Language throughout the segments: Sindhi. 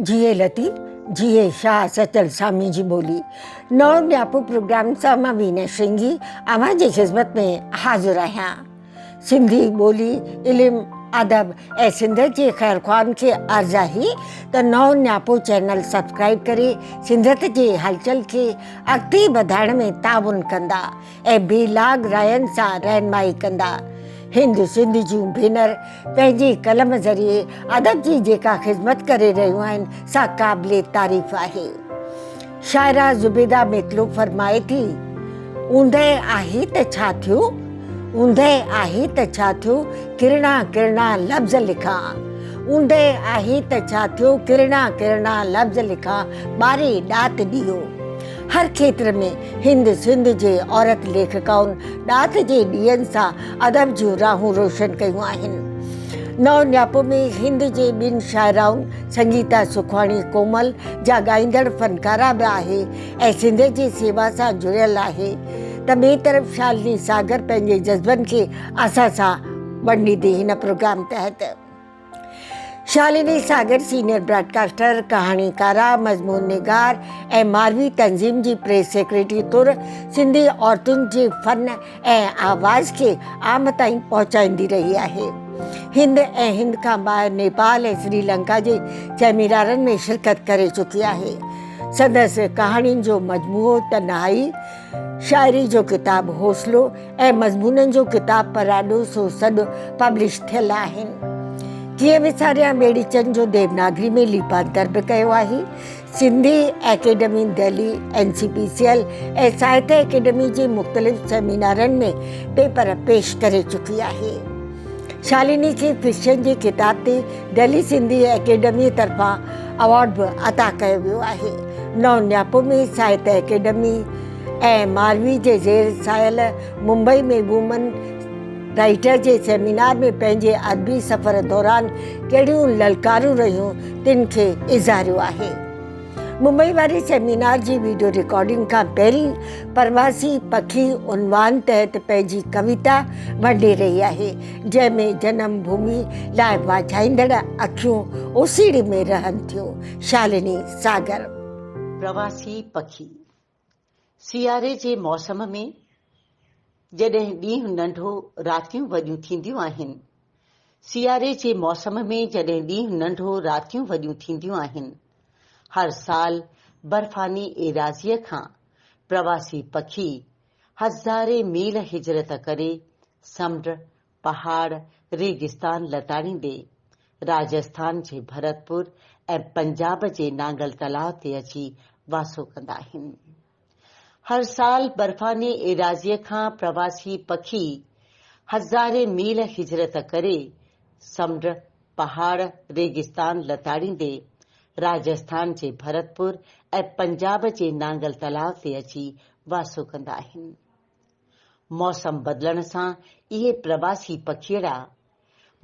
جيئي لطيف جيئي شاهه سچل سامي جي ٻولي نو ڏياپو پروگرام سان مان وينا شنگي اوهان جي خدمت ۾ حاضر آهيان سنڌي ٻولي، علم، ادب ۽ سنڌ جي خيرخواهن کي عرض آهي ته نئون نياپو چينل سبسڪرائيب ڪري سنڌيت جي هلچل کي اڳتي وڌائڻ ۾ تعاون ڪندا ۽ بي لاگ راين سان رهنمائي ڪندا. هند سنڌ جون ڀينر پنهنجي قلم ذريعي ادب جي جيڪا خدمت ڪري رهيون آهن سا قابل تعريف آهي. شاعره زبيده مطلوب فرمائي ٿي، اوندهه آهي ته ڇا ٿيو، اوندهه آهي ته ڇا ٿيو، ڪرڻا ڪرڻا لفظ لکان، اوندهه آهي ته ڇا ٿيو، ڪرڻا ڪرڻا لفظ لکان، ٻاري ڏات ڏيئو. هر کيتر ۾ هند سنڌ جي عورت ليکڪائن ڏات جي ڏيئن سان ادب جون راهون روشن ڪيون آهن. نئون نياپو ۾ هند جي ٻن شاعرائن سنگيتا سکواڻي ڪومل جا ڳائيندڙ فنڪاره به آهي ۽ سنڌ جي سيوا سان جڙيل آهي ته ٻئي طرف شالني ساگر پنهنجي جذبن کي اسان سان ونڊيندي هن پروگرام تحت شالني ساگر سينيئر براڊڪاسٽر، ڪهاڻيڪاره، مضمون نگار ۽ ماروي تنظيم جي پريس سيڪريٽري طور سنڌي عورتن جي فن ۽ آواز کي عام تائين پهچائيندي رهي آهي. هند ۽ هند کان ٻاهر نيپال ۽ سري لنڪا جي سيمينارن ۾ شرڪت ڪري چڪي آهي. سندس ڪهاڻين جو مجموعو تنهائي، شاعري جو ڪتاب حوصلو ۽ مضمونن جو ڪتاب پراڏو سو سڏ پبلش ٿيل آهن. ڪيئن وساريان ٻيڙيچن جو ديوناگري ۾ ليپانتر به ڪيو آهي، Sindhi academy Delhi, N C P C L ۽ Sahitya academy جي مختلف سيمينارن ۾ پيپر پيش ڪري چڪي آهي. شالني کي فڪشن جي ڪتاب تي دهلي سنڌي اڪيڊمي طرفان ايوارڊ به عطا ڪيو ويو آهي. نئون نياپو ۾ ساهتيه اڪيڊمي ۽ ماروي جي زير ساحل ممبئي ۾ وومن رائٽر جي سيمينار ۾ پنهنجي ادبي سفر دوران ڪهڙيون للڪارون رهيون تن کي اظهاريو آهي. ممبئي واري سيمينار جي ويڊيو رڪارڊنگ کان پهرين پرواسي پکي عنوان تحت پنهنجي ڪويتا ونڊي رهي آهي جنهن ۾ جنم ڀومي لاء واجهائيندڙ اکيون اوسيڙي ۾ رهن ٿيون شالني ساگر. پرواسي پکي سياري جي موسم ۾ جڏهن ڏينهن ننڍو راتيون وڏيون ٿينديون آهن سياري جي موسم ۾ جڏهن ڏينهن ننڍو راتيون وڏيون ٿينديون آهن هر سال برفاني ايراضيء کان پرواسي پکي هزارين ميل هجرت ڪري سمنڊ پهاڙ ريگستان لتاڙيندي راجسٿان جي ڀرتپور ۽ پنجاب جي نانگل تلاء تي اچي واسو ڪندا آهن. هر سال برفاني ايراضيء کان پرواسي پکي هزارين ميل هجرت ڪري سمنڊ، پهاڙ، ريگستان لتاڙيندي راجسٿان جي ڀرتپور ۽ پنجاب جي نانگل تلاء تي اچي واسو ڪندا آهن. موسم بدلڻ سان اهي پرواسي پکيئڙا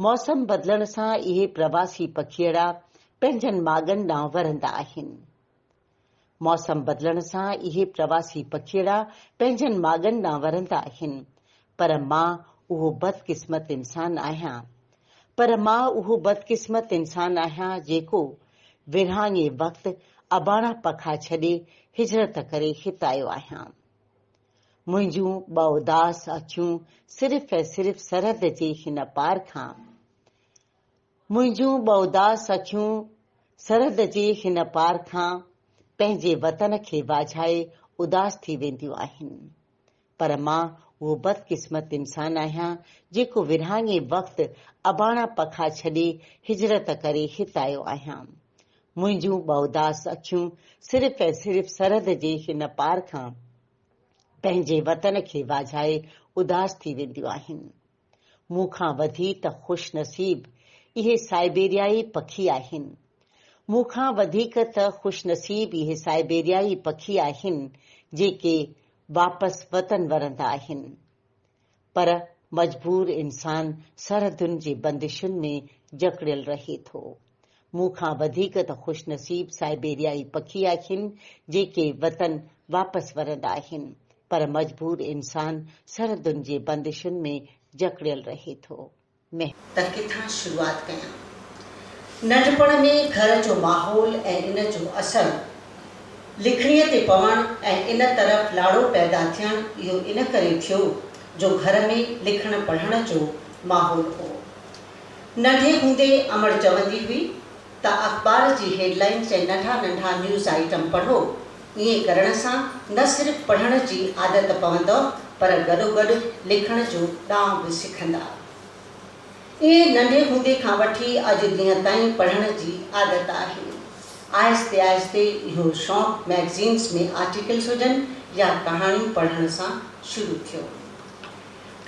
موسم بدلڻ سان اهي پرواسي پکيئڙا پنهنجن ماڳن ڏانهن ورندا آهن. موسم بدلڻ سان اهي پرواسي پکيئڙا پنهنجن ماڳن ڏانهن ورندا آهن. پر مان اهو بدقسمت انسان آهيان پر مان اهو بدقسمت انسان آهيان جيڪو ورهاڱي وقت اباڻا پکا ڇڏي هجرت ڪري هت آيو آهيان. منهنجون ٻه اداس اکيون صرف ۽ صرف سرحد جي هن پار کان منهنجون ٻه اداس اکيون سرحد جي هن پار کان پنهنجي وطن کي واجهائي اداس ٿي وينديون آهن پر مان اهو بدقسمت انسان آهيان جيڪو ورهاڱي وقت اباڻا پکا ڇڏي هجرت ڪري هت آيو آهيان منهنجون بااداس اکيون صرف ۽ صرف سرحد جي هن پار کان پنهنجي وطن کي واجهائي اداس ٿي وينديون آهن. مون کان وڌي ته خوش نصيب اهي سائبيريائي پکي آهن. مون کان وڌيڪ ته خوش نصيب اهي سائبيريائي پکي آهن جيڪي واپس وطن ورندا آهن. پر مجبور انسان سرحدن جي بندشن ۾ جڪڙيل رهي ٿو. مون کان وڌيڪ ته خوش نصيب سائبيريائي پکي آهن، جيڪي وطن واپس ورندا آهن، پر مجبور انسان سرحدن جي بندشن ۾ جڪڙيل رهي ٿو. مهر. ته ڪٿان شروعات ڪيان. ننڍپڻ ۾ گهر جو ماحول ۽ ان جو اثر لکڻيء تي پوڻ ۽ ان طرف لاڙو پيدا ٿيڻ اهو ان ڪري ٿيو جو گهر ۾ لکڻ پڙهڻ جو ماحول هو. ننڍي هوندي امڙ چوندي هئي. ته اخبار جي هيڊ لائنز ۽ ننڍا ننڍا نيوز آئٽم پڙهو. ائين ڪرڻ سان نه صرف پڙهڻ جي عادت پوندؤ پر گڏوگڏ لکڻ جو ڏانء به سکندا. ائين ننڍي هوندي کان وٺي اڄ ڏينهن تائين پڙهڻ جي عادت آهي. آهستي آهستي اهو شوق مئگزينز ۾ آرٽيڪلز هجن يا ڪهاڻيون پڙهڻ سان شروع ٿيو.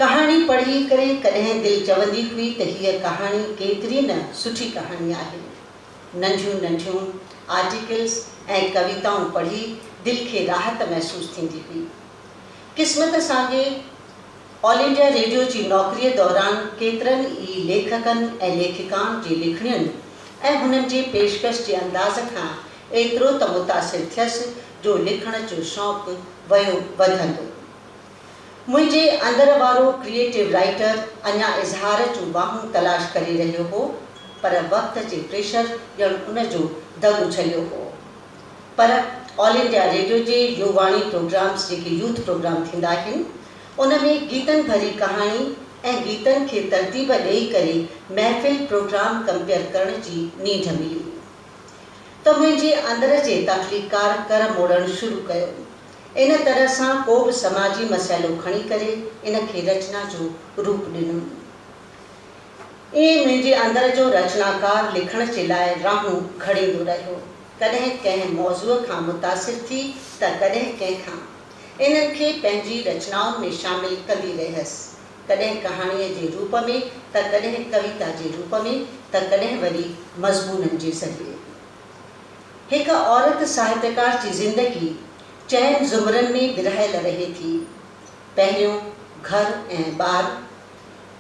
ڪهاڻي پڙهي ڪري ڪڏهن دل چوندي هئي ته هيء ڪهاڻي ڪيتري نه سٺي ڪهاڻي آهي. ننڍيون ننڍيون آرٽيڪلز ۽ ڪويتائون پڙهي دل کي راحت محسوس ٿيندي هئي. قسمت سانگي آل انڊيا ريڊيو جي نوڪريء دوران ڪيترن ئي ليکڪن ۽ ليکڪائن جي لکڻين ۽ هنن جي پيشڪش جي انداز کان ايترو ته متاثر ٿيس جو لکڻ جو شوق ويو وڌندو منهنجي اندر وارو ڪريئيٽو رائيٽر اڃا اظهار جون واهون تلاش ڪري رهيو هو پر وقت جي پريشر ڄڻ ان جو دڳ اڇليو هو. پر آل انڊيا ريڊيو جي يو واڻي پروگرامز جيڪي يوٿ پروگرام ٿيندا آهن ان ۾ گيتن ڀري ڪهاڻي ۽ گيتن کي ترتيب ڏئي ڪري محفل پروگرام ڪمپيئر ڪرڻ جي نينڍ ملي ته منهنجي اندر جي تخليقڪار ڪر موڙڻ شروع ڪيو ان طرح سان ڪو به سماجي مسئلو کڻي ڪري ان کي رچنا جو روپ ڏنو. ائين منهنجي اندر جو رچناڪار لکڻ جي لاء راهون گهڙيندو رهيو. ڪڏهن ڪنهن موضوع کان متاثر ٿي ته ڪڏهن ڪنهن کان. انهن کي پنهنجي رچنائن ۾ شامل ڪندي رهيس. ڪڏهن ڪهاڻيء جي روپ ۾ ته ڪڏهن ڪويتا جي روپ ۾ ته ڪڏهن وري مضمونن جي ذريعي. هڪ عورت ساهتڪار جي زندگي چئن زمرن ۾ ورهايل رهي ٿي، پهريون گهر ۽ ٻار،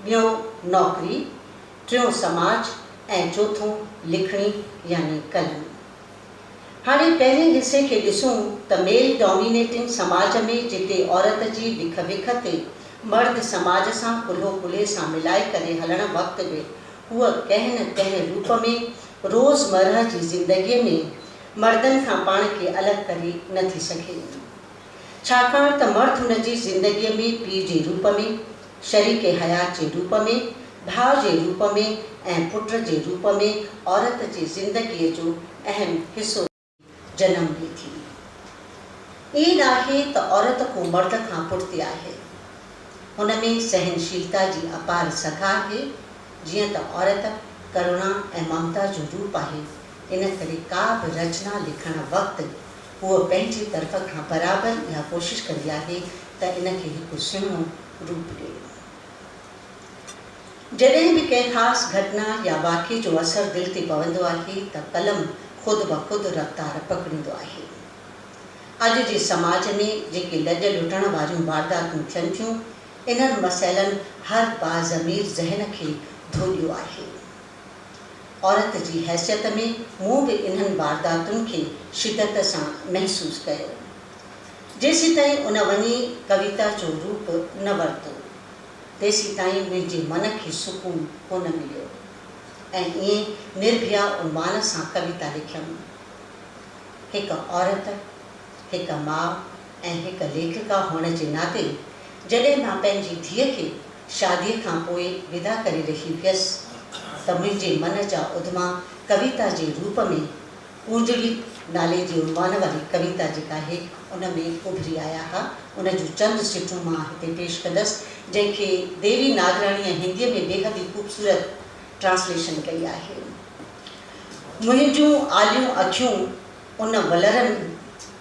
ٻيون نوڪري، ٽيون سماج ۽ چوٿون لکڻي يعني قلم. هاڻي پهرين حصي کي ڏسون ته ميل ڊومينيٽنگ سماج ۾ جتي عورت جي وک وک تي مرد سماج سان ڪلهو ڪلهي سان ملائي ڪري هلڻ وقت به هوء ڪنهن نه ڪنهن روپ ۾ روز مرهه جي زندگيء ۾ مردن کان پاڻ کي الڳ ڪري نه ٿي سگهي ٿي، ڇاڪاڻ ته مرد هن جي زندگيء ۾ پيء جي روپ ۾، شريڪ حيات جي روپ ۾، ڀاء جي روپ ۾ ۽ پٽ جي روپ ۾ عورت جي زندگيء جو اهم حصو رهيو آهي. جنم به ٿي. ائين ناهي ته عورت ڪو مرد کان پٺتي آهي. هن ۾ سهنشيلتا جي اپار سگهه آهي. جيئن ته عورت ڪروڻا ۽ ممتا جو روپ آهي، ان ڪري ڪا به رچنا لکڻ وقت هوء پنهنجي طرف کان برابر اها ڪوشش ڪندي آهي ته ان کي هڪ سهڻو روپ ڏيو. جڏهن به ڪنهن خاص گهٽنا يا واقعي جو اثر دل تي پوندو آهي ته قلم خود بخود رفتار پڪڙيندو آهي. اڄ جي سماج ۾ جيڪي لڄ لٽڻ واريون وارداتون ٿين ٿيون، انهن مسئلن هر باضمير ذهن کي ڌوڏيو آهي. عورت جي حيثيت ۾ مون به انهن وارداتن کي شدت سان محسوس ڪيو. جيسيتائين ان وڃي ڪويتا جو روپ نه ورتو. تيسيتائين منهنجي من کي سڪون ڪونه مليو ۽ ائين نرڀيا عنوان سان ڪويتا لکيم. هڪ عورت، هڪ ماء ۽ هڪ ليکڪا هئڻ جي ناتي جڏهن مان پنهنجي ڌيء کي شاديء کان پوء ودا ڪري رهي هيس ته منهنجي من جا اڌما ڪويتا جي روپ ۾ اونجهڙي نالي جي عنوان واري ڪويتا جيڪا اهي ان ۾ اڀري آيا ها، ان جون چند سٽون مان هتي پيش ڪندس، جنهن کي ديوي ناگراڻيء هنديء ۾ بيحد ئي خوبصورت ٽرانسليشن ڪئي آهي. منهنجون آليون اکيون ان ولر ۾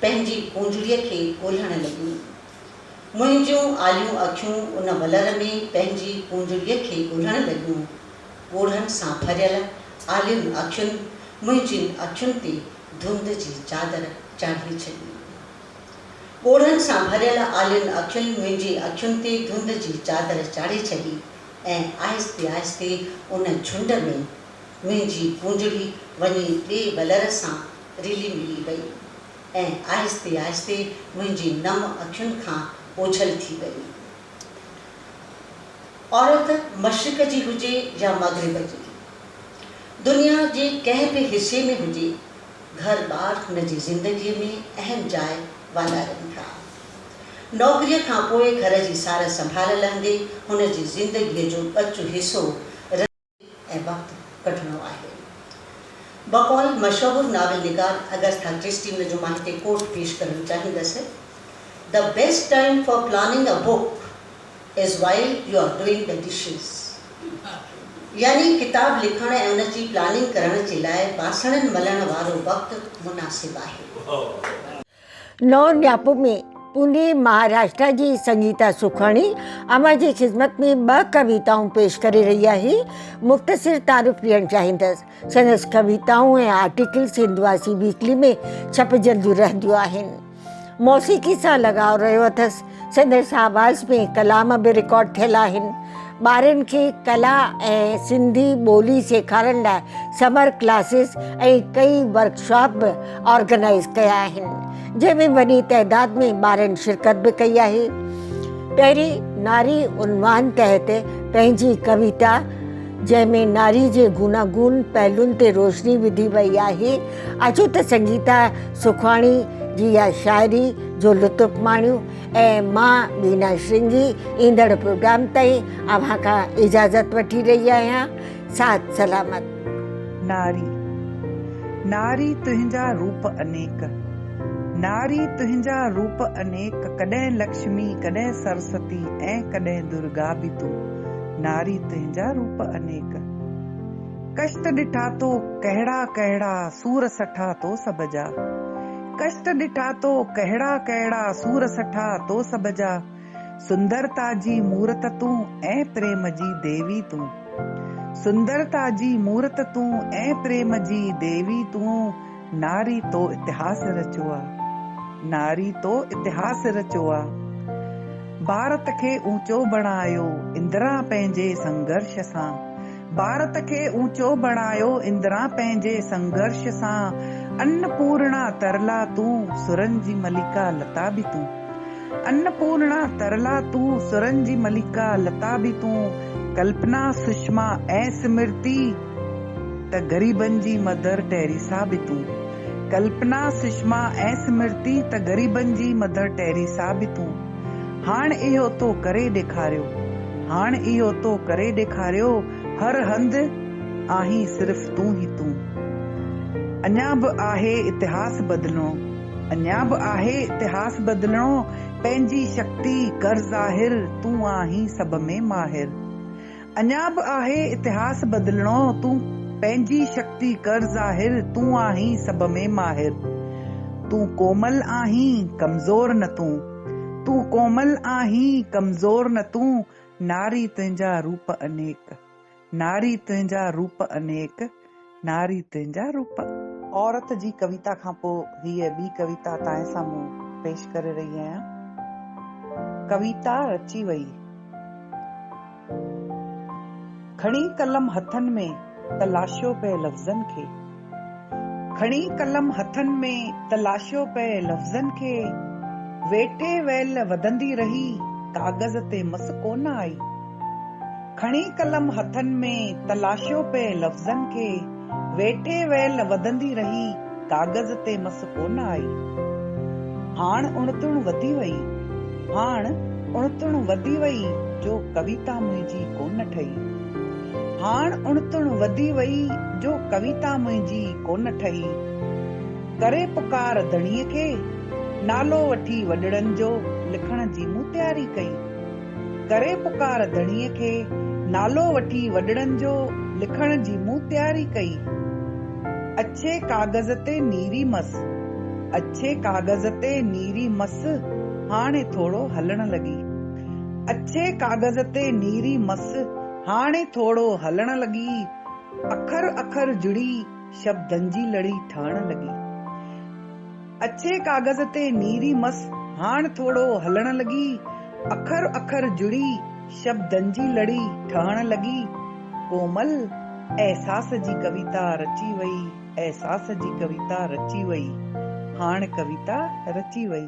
پنهنجي اونجهڙيء کي ڳولهڻ لڳيون. منهنجون آليون اکيون ان ولر ۾ پنهنجي اونجهڙيء کي ڳولهڻ لڳيون. ڳوڙهن سان ڀريل آلين اکين منهنجين اکين تي ڌنڌ جي چادر چاڙهي ڇڏي. ڳوڙهن سان ڀريل آلين اکين منهنجي اکين تي ڌنڌ جي چادر چاڙهي ڇڏي ۽ آهستي آهستي ان جهنڊ ۾ منهنجي ڪونجڙي وڃي ٻئي ولر سان رلي ملي وئي ۽ آهستي آهستي منهنجي نم اکين کان اوجهل ٿي وئي عورت مشرق جي هجي يا مغرب جي، دنيا جي ڪنهن به حصي ۾ هجي، گهر ٻار هن جي زندگيء ۾ اهم جاء والارين ٿا. نوڪريء کانپوء گهر جي سار سنڀال لهندي هن جي زندگيء جو ٻچو حصو رهندو آهي. ۽ وقت ڪڍڻو آهي. بقول مشهور ناول نگار اگسٿا ڪرسٽي ان جو مان هتي ڪوٽ پيش ڪرڻ چاهيندس، The best time for planning a book is while you are doing the dishes يعني ڪتاب لکڻ ۽ ان جي پلاننگ ڪرڻ جي لاء باسڻن ملڻ وارو وقت مناسب آهي. نو نياپو ۾ پوني مهاراشٽرا جي سنگيتا سکاڻي اوهان جي خدمت ۾ ٻه ڪويتائون پيش ڪري رهي آهي. مختصر تعارف ڏيڻ چاهيندس. سندس ڪويتائون ۽ آرٽيڪل سنڌواسي ويڪلي ۾ ڇپجنديون رهنديون آهن. موسيقي سان لڳاء رهيو اٿس. سندن شاهباز ۾ ڪلام به رڪارڊ ٿيل آهن. ٻارن کي ڪلا ۽ سنڌي ٻولي سيکارڻ لاء سمر ڪلاسز ۽ ڪئي ورڪشاپ به آرگنائيز ڪيا آهن، جنهن ۾ وڏي تعداد ۾ ٻارن شرڪت به ڪئي آهي. پهرين ناري عنوان تحت پنهنجي ڪويتا. جنهن ۾ ناري جي گوناگون پهلون تي روشني وڌي وئي آهي. اچو ته سنگيتا سکواڻي جي اها شاعري جو لطف ماڻيون ۽ مان بينا شرنگي ايندڙ پروگرام تائين اوهان کان اجازت وٺي رهي آهيان. ساٿ سلامت. ناري ناري تنهنجا روپ انيڪ. ناري تنهنجا روپ انيڪ ڪڏهن لڪشمي ڪڏهن سرستي ۽ ڪڏهن درگا به تون. ناري تنهنجا روپ انيڪ. ڪشٽ ڏٺا تو ڪهڙا ڪهڙا، سور سٺا تو سڀ جا. ڪشٽ ڏٺا تو ڪهڙا ڪهڙا، سور سٺا تو سڀ جا. سندرتا جي مورت تون ۽ پريم جي ديوي تون. سندرتا جي مورت تون ۽ پريم جي ديوي تون. ناري تو اتهاس رچو آ. ناري تو اتهاس رچو آ. ڀارت کي اونچو بڻايو اندرا پنهنجي سنگهرش سان. ڀارت کي اونچو بڻايو اندرا پنهنجي سنگهرش سان. ان پورڻا ترلا تون سرن جي ملڪا لتا به تون. ان پورڻا ترلا تون سرن جي ملڪا لتا به تون. ڪلپنا، سشما ۽ سمرتي. ته غريبن جي مڌر ٽيريسا به تون. ڪلپنا، سشما ۽ سمرتي ته غريبن جي مڌر ٽيريسا به تون. هاڻ اهو تو ڪري ڏيکاريو. هاڻ اهو تو ڪري ڏيکاريو هر هنڌ آهين صرف تون ئي تون. اڃا به آهي اتهاس بدلڻو. اڃا به آهي اتهاس بدلڻو پنهنجي شڪتي ڪر ظاهر تون آهين سڀ ۾ ماهر. اڃا به آهي اتهاس بدلڻو تون پنهنجي شڪتي ڪر ظاهر تون آهين سڀ ۾ ماهر تون ڪومل آهين ڪمزور نه تون تون ڪومل آهين ڪمزور نه تون ناري تنهنجا روپ انيڪ ناري تنهنجا روپ انيڪ. ناري تنهنجا روپ. عورت جي ڪويتا کان پوء هيء ٻي ڪويتا تانئن سامهون پيش ڪري رهي آهيان. ڪويتا رچي ويئي. کڻي قلم هٿن ۾ ته لاشيو پئي لفظن کي. کڻي قلم هٿن ۾ ته لاشيو پئي لفظن کي. ويٺي ويل وڌندي رهي ڪاغذ تي مس ڪونه آئي. کڻي قلم هٿن ۾ تلاشيو پئي لفظن کي، ويٺي ويل وڌندي رهي ڪاغذ تي مس ڪونه آئي. هاڻ اڻتڻ وڌي وئي، هاڻ اڻتڻ وڌي وئي جو ڪويتا منهنجي ڪونه ٺهي. هاڻ اڻتڻ وڌي وئي جو ڪويتا منهنجي ڪونه ٺهي. ڪري پڪار ڌڻيء کي، نالو وٺي وڏڙن جو لکڻ جي مون تياري ڪئي. ڪري پڪار ڌڻيء کي نالو وٺي وڏڙن جو لکڻ جي مون تياري ڪئي. اڇي ڪاغذ تي نيري مس. اڇي ڪاغذ تي نيري مس هاڻي ٿورو هلڻ لڳي. اڇي ڪاغذ تي نيري مس هاڻي ٿورو هلڻ لڳي. اکر اکر جڙي شبدن جي لڙي ٺهڻ لڳي. اڇي ڪاغذ تي نيري مس هاڻ ٿورو هلڻ لڳي، اکر اکر جڙي شبدن جي لڙي ٺهڻ لڳي، ڪومل احساس جي ڪويتا رچي وئي، احساس جي ڪويتا رچي وئي، هاڻ ڪويتا رچي وئي.